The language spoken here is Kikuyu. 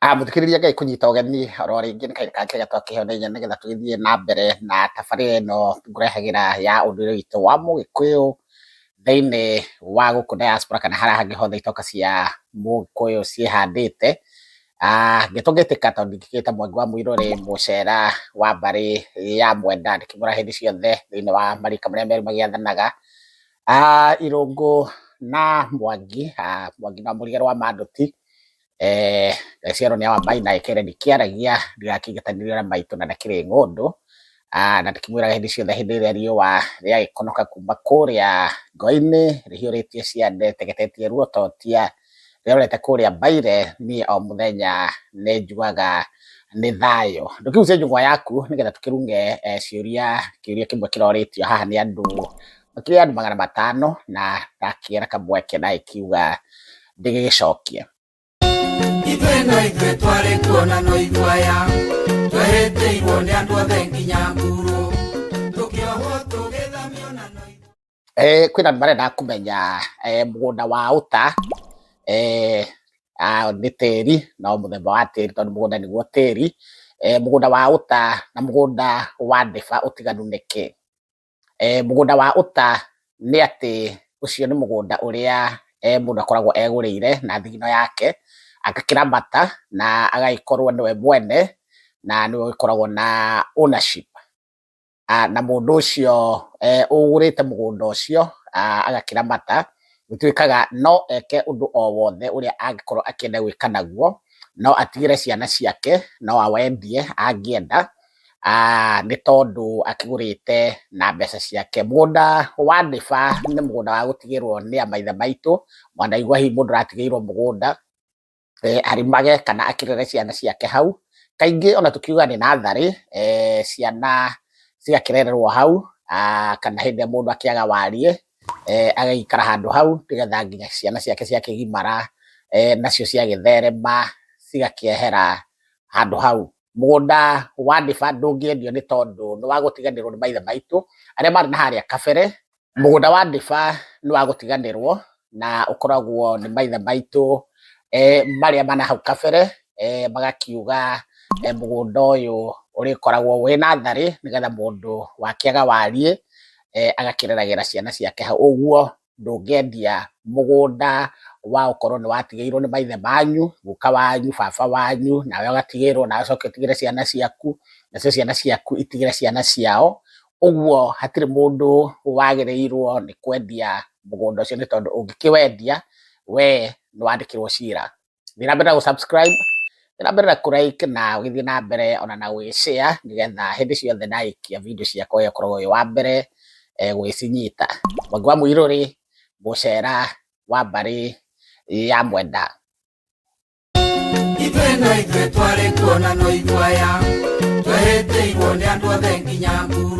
Ah, mũthikĩrĩria ngai kũnyita ũgeni oro rĩngĩ nĩ kahinda kangĩ gatwa kĩheo na inya nĩgetha tũgĩthiĩ na mbere na tabarĩra ĩno ngũrehagĩra ya ũndũire witũ wa mũgĩkũyũ thĩinĩ wa gũkũ diaspora kana harĩa hangĩ hothe itoka cia mũgĩkũyũ ciĩhandĩte Ah, ngĩtũngĩtĩka tondũ ndingĩgĩta mwangi wa mũirũrĩ mũcera wa mbarĩ ya mwenda ndĩkĩmũra hĩndĩ ciothe thĩinĩ wa marika marĩa merĩ magĩathanaga Ah, irũngũ na mwangi ah, mwangi na mũrige rwa mandũti eh, Gaciarwo nĩ Awambai na Ekere ndikĩaragia ndigakĩngetanĩrio na maitũ na ndakĩrĩ ng'ũndũ Ah, na ndĩkĩmwĩraga hĩndĩ ciothe hĩndĩ ĩrĩa riũa rĩagĩkonoka kuma kũrĩa ngoinĩ rĩhiũrĩtie ciande tegetetie ruototia rĩrorete kũrĩa mbaire niĩ o mũthenya nĩ njugaga nĩ thayũ ndũkĩgucie njũng'wa yaku nĩgetha tũkĩrunge eh, ciũria kĩũria kĩmwe kĩrorĩtio haha nĩ andũ makĩrĩ andũ magana matano na ndakĩera kamweke na ĩkiuga ndĩgĩgĩcokie ithuĩ no ithuĩ twarĩ kuo na no ithuaya twereteirwo nĩ andũ othe nginya nguru tũkĩohwo tũgĩthamio na no ithuĩ Eh, kwĩna andũ marenda kũmenya eh, mũgũnda wa ũta eh, ah, nĩ tĩri na o mũthemba wa tĩri tondũ mũgũnda nĩguo tĩri eh, mũgũnda wa ũta na mũgũnda wa ndĩba ũtiganu nĩ kĩ E, mũgũnda wa ũta nĩ atĩ ũcio nĩ mũgũnda ũrĩa e, mũndũ akoragwo egũrĩire na thigino yake agakĩramata na agagĩkorwo nĩwe mwene na nĩwe ũgĩkoragwo na ownership Ah, na mũndũ ũcio eh, ũgũrĩte mũgũnda ũcio ah, agakĩramata gũtuĩkaga no eke ũndũ o wothe ũrĩa angĩkorwo akĩenda gwĩka naguo no atigĩre ciana ciake no awendie angĩenda nĩ tondũ akĩgũrĩte na mbeca ciake. Mũgũnda wa Ndiba nĩ mũgũnda wa gũtigĩrwo nĩ a maithe maitũ, mwanaigua hihi mũndũ aratigĩirwo mũgũnda arĩmage kana akĩrere ciana ciake hau. Kaingĩ ona tũkiuga nĩ natharĩ ciana cigakĩrererwo hau kana hĩndĩ ĩrĩa mũndũ akĩaga wariĩ agagĩikara handũ hau nĩ getha nginya ciana ciake ciakĩgimara nacio ciagĩtherema cigakĩehera handũ hau. mũgũnda wa Ndiba ndũngĩendio nĩ tondũ nĩ wa gũtiganĩrwo nĩ maithe maitũ arĩa marĩ na harĩa kabere. Mũgũnda wa Ndiba nĩ wa gũtiganĩrwo na ũkoragwo nĩ maithe maitũ marĩa ma na hau kabere, magakiuga mũgũnda ũyũ ũrĩkoragwo wĩ natharĩ nĩgetha mũndũ wakĩaga wariĩ agakĩreragĩra ciana ciake hau ũguo. ndũngĩendia mũgũnda wa ũkorwo nĩ watigĩirwo nĩ maithe manyu, guka wanyu, baba wanyu, nawe ũgatigĩrwo, nawe ũcoke ũtigĩre ciana ciaku, nacio ciana ciaku itigĩre ciana ciao, ũguo hatirĩ mũndũ wagĩrĩirwo nĩ kwendia mũgũnda ũcio nĩ tondũ ũngĩkĩwendia, wee nĩ wandĩkĩrwo cira. nĩ ũrabata gũ subscribe, nĩ ũrabata kũ like na ũgĩthiĩ na mbere ona na gũgĩ share nĩgetha hĩndĩ ciothe ndarĩkia video ciakwa ũyũ ũkoragwo wĩ wa mbere gũgĩcinyita. Mwangi wa Mũirũ rĩ, mũcera wa mbarĩ ya mwenda. Ithuĩ no ithuĩ twarĩ kuo na no ithuĩ aya, twehĩtĩirwo nĩ andũ othe nginya nguru.